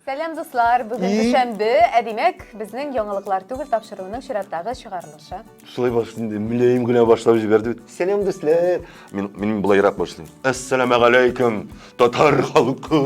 Сәлам, дуслар! Бүген дүшәмбе, ә димәк, безнең яңалыклар түгел тапшыруының чираттагы чыгарылышы. Шулай баш инде, мөләем генә башлап җибәрде бит. Сәлам, дуслар! Мин, мин былайрак башлыйм. Әссәламә галәйкүм, татар халкым!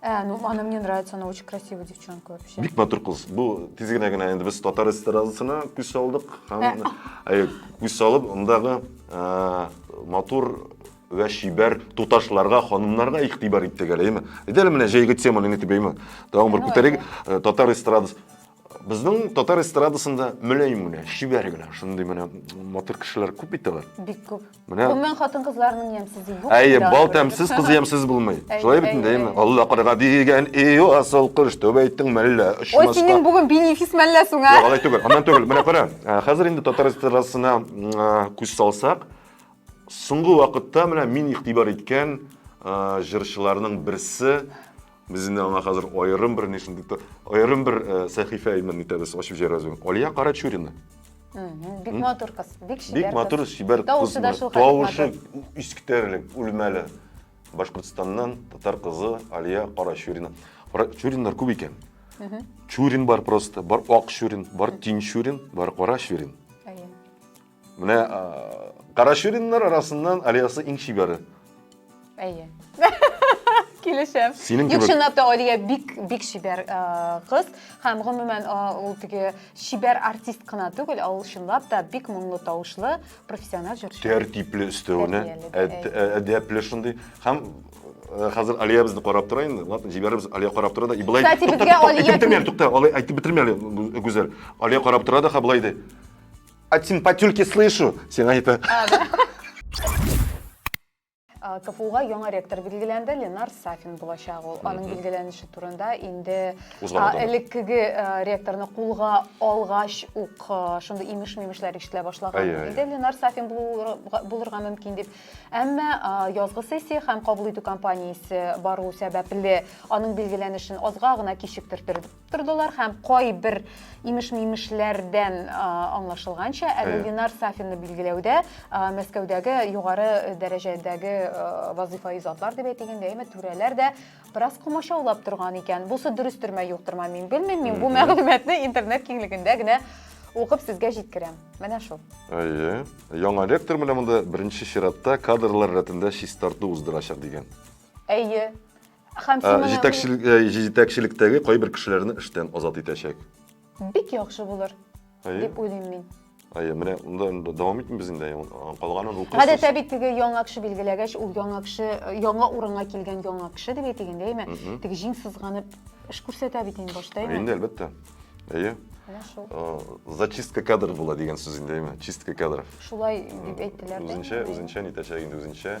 Ә, ну она мне нравится, она очень красивая девчонка вообще. Бик матур кыз. Бу тизгенә генә инде без татар эстрадасына күз салдык һәм ә. Э, күз салып, мондагы э, матур вә шибәр туташларга, ханымнарга игътибар иттек әле, әйме? Әйдәле менә җәйге теманы нитеп әйме? Тагын бер күтәрик. Э, татар эстрадасы Безнең татар эстрадасында мөләйм генә, чибәр генә, шундый менә матур кешеләр күп бит алар. Бик күп. Менә. Гомумән хатын-кызларның ямьсез юк. Әйе, бал тәмсез, кыз ямьсез булмый. Шулай бит инде, әйеме? Алла карга дигән и асыл кош, түбәйтең мәллә очмаска. Ой, синең бүген бенефис мәллә соң, а? Юк, алай түгел. Аннан түгел. Менә кара, ә, хәзер инде татар эстрадасына күз салсак, соңгы вакытта менә мин игътибар иткән җырчыларның берсе Без инде аңа хәзер аерым бер нишен дип тор- аерым бер э, сәхифә имин итәбез, ачып җибәрәбез. бүген. Алия Карачурина. Мгм. Бик матур кыз, бик чибәр Бик матур, кыз. чибәр Тавышы кыз. да шул хәтле Тавышы матур. искитәрлек, үлмәле. Башкортстаннан татар кызы Алия Карачурина. Карачуриннар күп икән. Чурин бар просто, бар Ак Чурин, бар Тинчурин, бар Кара Чурин. Менә Карачуриннар арасыннан Алиясы иң чибәре. Әйе. Килешәм. Синең кебек. Юк, чынлап та Алия бик бик чибәр кыз һәм гомумән ул теге чибәр артист кына түгел, ә ул чынлап та бик моңлы тавышлы профессиональ җырчы. Тәртипле өстәвенә, әдәпле шундый һәм Э, хәзер Алия безне карап тора инде. Ладно, җибәрербез. Алия карап тора да. И былай Кстати, безгә Алия әйтеп бетермә әле, тукта. Алай әйтеп бетермә әле, Гүзәл. Алия карап тора да, ха былай ди. От симпатюльки слышу, сиңа әйтә. А, КФУга яңа ректор билгеләнде, Ленар Сафин булачак ул. Аның билгеләнеше турында инде Узган а, атна. элеккеге а, ректорны кулга алгач ук а, шундый имеш-мимешләр ишетелә башлаган. Әйе, әйе. Инде Ленар Сафин булуырга- булырга мөмкин дип. Әмма а, язгы сессия һәм кабул итү кампаниясе бару сәбәпле аның билгеләнешен азга гына кичектертер- тордылар һәм кайбер имеш-мимешләрдән аңлашылганча, әле Ленар Сафинны билгеләүдә Мәскәүдәге югары дәрәҗәдәге вазыйфа изатлар дип әйтегәндә, әмма түрәләр дә бераз комачаулап торган икән. Бусы дөрес төрмә юктырма мин белмим, мин бу мәгълүматны интернет киңлегендә генә укып сезгә җиткерәм. Менә шул. Әйе. Яңа ректор менә монда беренче чиратта кадрлар рәтендә чистарту уздырачак дигән. Әйе. Һәм син моны Җитәкчел- э, Җитәкчелектәге кайбер кешеләрне эштән азат итәчәк. бик яхшы булыр Әйе, дип уйлыйм мин. әйе, менә монда инде дәвам итмибез инде, әйе, ул- калганын укыйсыз. Гадәттә бит теге яңа кеше билгеләгәч, ул яңа кеше, э, яңа урынга килгән яңа кеше дип әйтик инде, әйме? Мгм. Теге җиң сызганып эш күрсәтә бит инде башта, Әйе, әйме? Инде әлбәттә. Әйе. Менә шул. Э, Зачистка кадр була дигән сүз инде, әйме? Чистка кадров. Шулай дип әйттеләр. дә. Үзенчә, үзенчә нитәчәк инде, үзенчә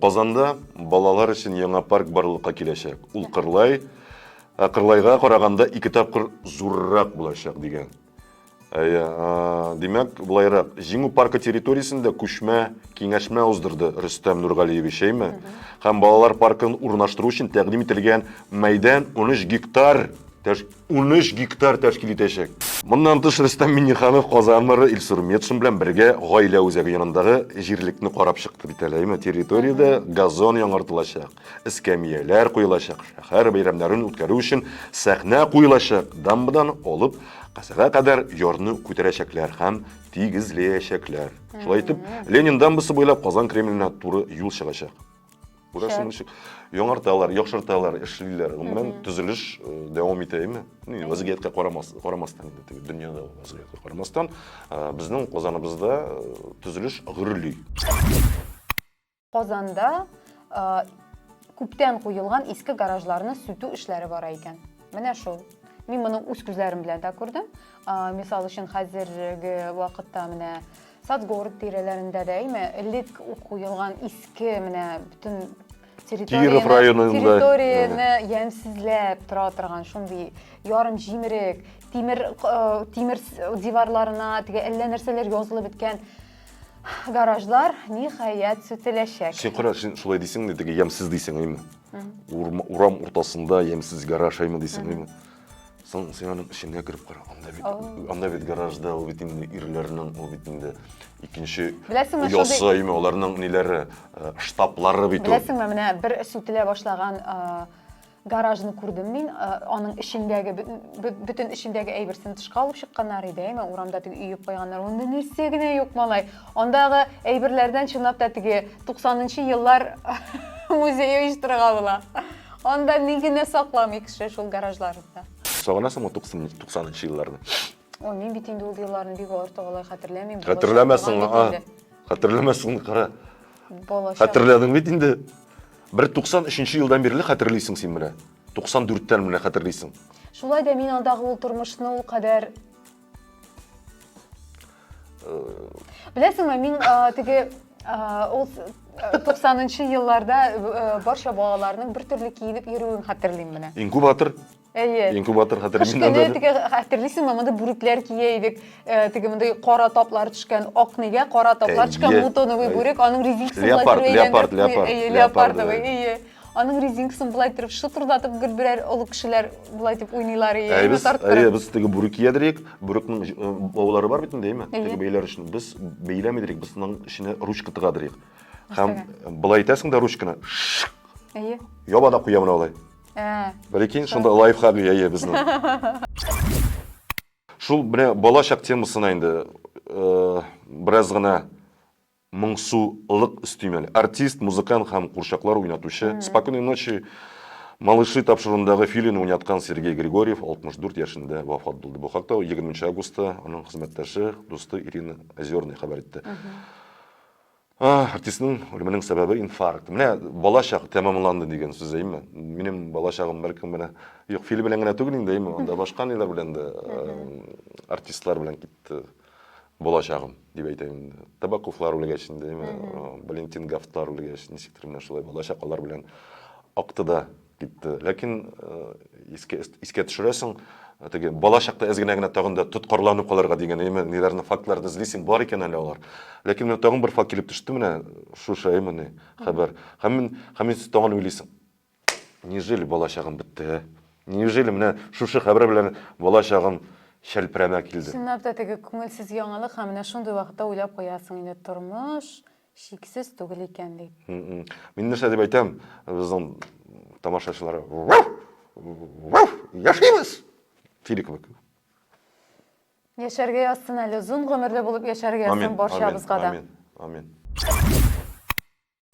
Казанда балалар өчен яңа парк барлыкка киләчәк. Ул Кырлай, ә Кырлайга караганда ике тапкыр зуррак булачак, дигән. Әйе, димәк, булайрак, Җиңү паркы территориясендә күчмә киңәшмә уздырды Рөстәм Нургалиевич, әйме? Һәм балалар паркын урнаштыру өчен тәкъдим ителгән мәйдан 13 гектар 13 гектар тәшкил итәчәк. Моннан тыш, Рөстәм Миңнеханов Казан мэры Илсур Метшин белән бергә гаилә үзәге янындагы җирлекне карап чыкты бит әле, әйме? Территориядә газон яңартылачак, эскәмияләр куелачак, шәһәр бәйрәмнәрен үткәрү өчен сәхнә куелачак, дамбадан алып Казага кадәр ярны күтәрәчәкләр һәм тигезләячәкләр. Шулай итеп, Ленин дамбасы буйлап Казан Кремленә туры юл чыгачак. Күрәсең ничек яңарталар, яхшырталар, эшлиләр. Гомумән төзелеш э, дәвам итә име? Ни, вазгыятькә карамас, карамастан инде теге дөньяда вазгыятькә карамастан, э, безнең Казаныбызда э, төзелеш гөрли. Казанда э, күптән куелган иске гаражларны сүтү эшләре бара икән. Менә шул. Мин моны үз күзләрем белән дә күрдем. Э, мисал өчен хәзерге вакытта менә Садгород тирәләрендә дә, әйме, элек ук куелган иске менә бөтен Киров районында. территорияне ямьсезләп тора торган шундый ярым җимерек, тимер э, тимер диварларына теге әллә нәрсәләр язылып беткән гаражлар ниһаять сүтеләчәк. Син кара, син шулай дисең дә, теге ямьсез дисең, әйме? Урам уртасында ямьсез гараж, әйме дисең, әйме? Соң син аның эченә кереп кара. Анда бит, анда бит гаражда, ул бит инде ирләрнең, ул бит инде икенче Беләсеңме, шундый- ясаймы, аларның ниләре, э, штаблары бит ул. Беләсеңме, менә бер сүтелә башлаган э, гаражны күрдем мин. Э, Аның эчендәге, бөтен- бө- бөтен эчендәге әйберсен тышка алып чыкканнар иде, әйме, урамда теге өеп куйганнар. Анда нәрсә генә юк, малай. Андагы әйберләрдән чынлап та теге 90 нчы еллар музее оештырырга була. Анда ни генә сакламый кеше шул гаражларында. Сагынасыңмы 90 нчы елларны? Ой, мин бит инде ул елларны бик артык алай хәтерләмим. Хәтерләмәсең, а. Хәтерләмәсең, кара. Балачак. Хәтерләдең бит инде. Бер 93 елдан бирле хәтерлисең син менә. 94 тән менә хәтерлисең. Шулай да мин андагы ул тормышны ул кадәр Беләсеңме, мин теге ул 90-нчы елларда барча балаларның бер төрле киенеп йөрүен хәтерлим менә. Инкубатор Әйе. Инкубатор хәтерлим. Кыш көне теге хәтерлисеңме, монда бүрекләр кия идек. Теге мондый кара таплар төшкән, ак нигә кара таплар төшкән, мутоновый бүрек, аның резинкасы белән Леопард, леопард, леопард. Леопардовый, әйе. Аның резинкасын былай торып шытырдатып гел берәр олы кешеләр былай дип уйныйлар и Әйбез, әйе, без теге бүрек киядерик. Бүрекнең э, баулары бар бит инде, әйме? Теге бәйләр өчен. Без бәйләмидерик, без аның эченә ручка тыгадырык. Һәм былай итәсең дә ручканы. Әйе. Яба да куя менә алай. Ә. Берекин шунда лайфхак әйе безнең. Шул менә балачак темасына инде э, бераз гына Моңсу лык өстимәле артист, музыкант һәм курчаклар уйнатучы, Спокойной ночи, малыши тапшыруындагы Филине уйнаткан Сергей Григорьев 64 яшендә вафат булды. Бу хакта 20 нче августта аның хезмәттәше, дусты Ирина Озерная хәбәр итте. Артистның үлеменең сәбәбе инфаркт. Менә бала чак тәмамланды дигән сүз, әйме? Минем бала чагым бәлкем менә юк, Фили белән генә түгел инде, әйме, анда башка ниләр белән дә артистлар белән китте. Булачагым, дип әйтәм инде. Табаковлар үлгәч инде, әйме, Валентин Гафтлар үлгәч, ничектер менә шулай булачак, алар белән акты да китте. Ләкин искә, искә төшерәсең, теге бала чакта әз генә генә тагын да тоткарланып калырга дигән, әйме, ниләрне, фактларны эзлисең, бар икән әле алар. Ләкин менә тагын бер факт килеп төште менә шушы, әйме, хәбәр. Һәм, һәм сез тагын уйлыйсың. Неужели бала чагым бетте, ә? Неужели менә шушы хәбәр белән бала чагым чәлпрәмә килде? Чынлап та теге күңелсез яңалык һәм менә шундый вакытта уйлап куясың инде, тормыш чиксез түгел икән дип. Мин нәрсә дип әйтәм, безнең тамашачылар яшибез! Тиле кебек. Яшәргә язсын әле, озын гомерле булып яшәргә язсын барчабызга да. Амин, амин, амин.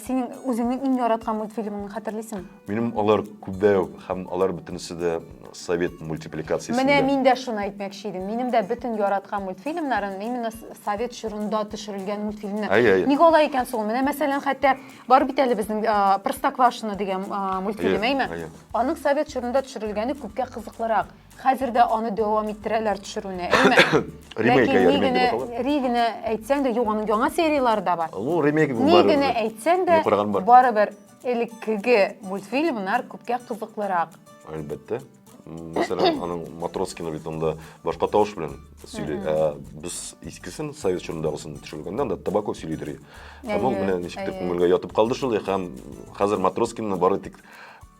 Синең үзеңнең иң яраткан мультфильмыңны хәтерлисең? Минем алар күбәү һәм алар бөтенесе дә совет мультипликациясендә. Менә мин дә шуны әйтмәкче идем. Минем дә бөтен яраткан мультфильмнарым именно совет чорында төшерелгән мультфильмнар. Әй, әй. Ник алай икән соң? Менә мәсәлән, хәтта бар бит әле безнең Простоквашино дигән мультфильм, әйме? Аның совет чорында төшерелгәне күпкә кызыклырак. Хәзер дә аны дәвам иттерәләр төшерүне, әйме? Ремейк, Ләкин ни генә, ри генә әйтсәң дә, юк, аның яңа сериялары да бар. Ну, ремейк бу Ни генә әйтсәң дә, барыбер элеккеге мультфильмнар күпкә кызыклырак. Әлбәттә. Мәсәлән, аның Матроскина бит анда башка тавыш белән сөйли. Ә без искесен, совет чорындагысын төшергәндә анда Табаков сөйлидер. Ә бу менә ничектер күңелгә ятып калды шул, һәм хәзер Матроскинны бары тик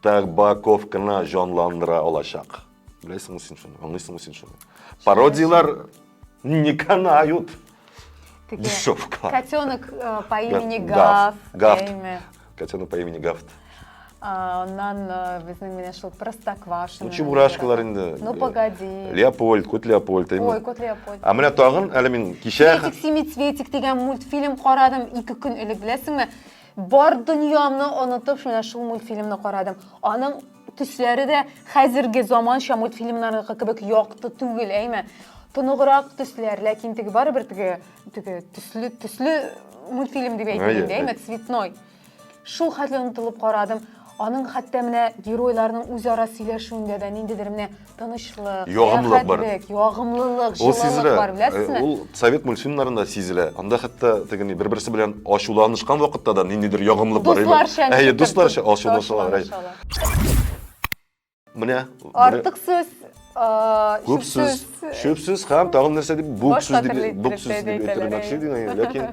Табаков кына җанландыра алачак. Беләсеңме син шуны? Аңлыйсыңмы син шуны? Пародияләр не канают. Еще в кадр. Котенок э, по имени Гав. Гав. Котенок по имени Гавт. Аннан э, безнең менә шул Простоквашино. Ну, чебурашкалар инде. Ну, погоди. Леопольд, кот Леопольд. Ой, кот Леопольд. А менә тагын, әле мин кичә... Светик, семицветик дигән мультфильм карадым ике көн элек, беләсеңме? Бар дөньямны онытып, менә шул мультфильмны карадым. Аның төсләре дә хәзерге заманча мультфильмнарныкы кебек якты түгел, әйме? Тоныграк төсләр, ләкин теге барыбер теге теге төсле төсле мультфильм дип әйтелгән, әйме, цветной. Шул хәтле онытылып карадым. Аның хәтта менә геройларның үзара сөйләшүендә дә ниндидер менә тынычлык, ягымлылык бар. Ягымлылык, җылылык бар, беләсезме? Э, ул совет мультфильмнарында сизелә. Анда хәтта тегени бер-берсе белән ачуланышкан вакытта да ниндидер ягымлылык бар. Дусларча. Әйе, дусларча ачулашалар. Менә. Артык сүз, күп сүз, шөп сүз һәм тагын нәрсә дип бүк сүз дип бүк сүз дип әйтелмәкче дигән, ләкин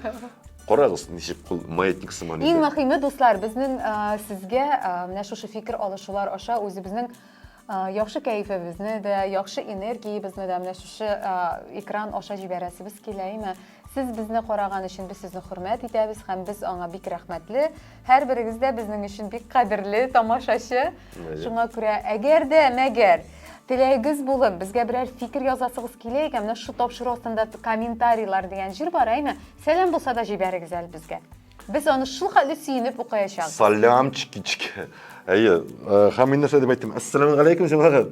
Карагыз, ничек кул маятник сыман итә. Иң мөһиме, дуслар, безнең сезгә менә шушы фикер алышулар аша үзебезнең яхшы кәефебезне дә, яхшы энергиябезне дә менә шушы экран аша җибәрәсебез килә, әйме? Сез безне караган өчен без сезне хөрмәт итәбез һәм без аңа бик рәхмәтле. Һәрберегез дә безнең өчен бик кадерле тамашачы. Шуңа күрә, әгәр дә мәгәр теләгегез булып, безгә берәр фикер язасыгыз килә икән, менә шул тапшыру астында комментарийлар дигән җир бар, әйме? Сәлам булса да җибәрегез әле безгә. Без аны шул хәтле сөенеп укыячак. Салям чикички. Әйе, э, һәм мин нәрсә дип әйттем? Әссәламу алейкум, җәмәгать.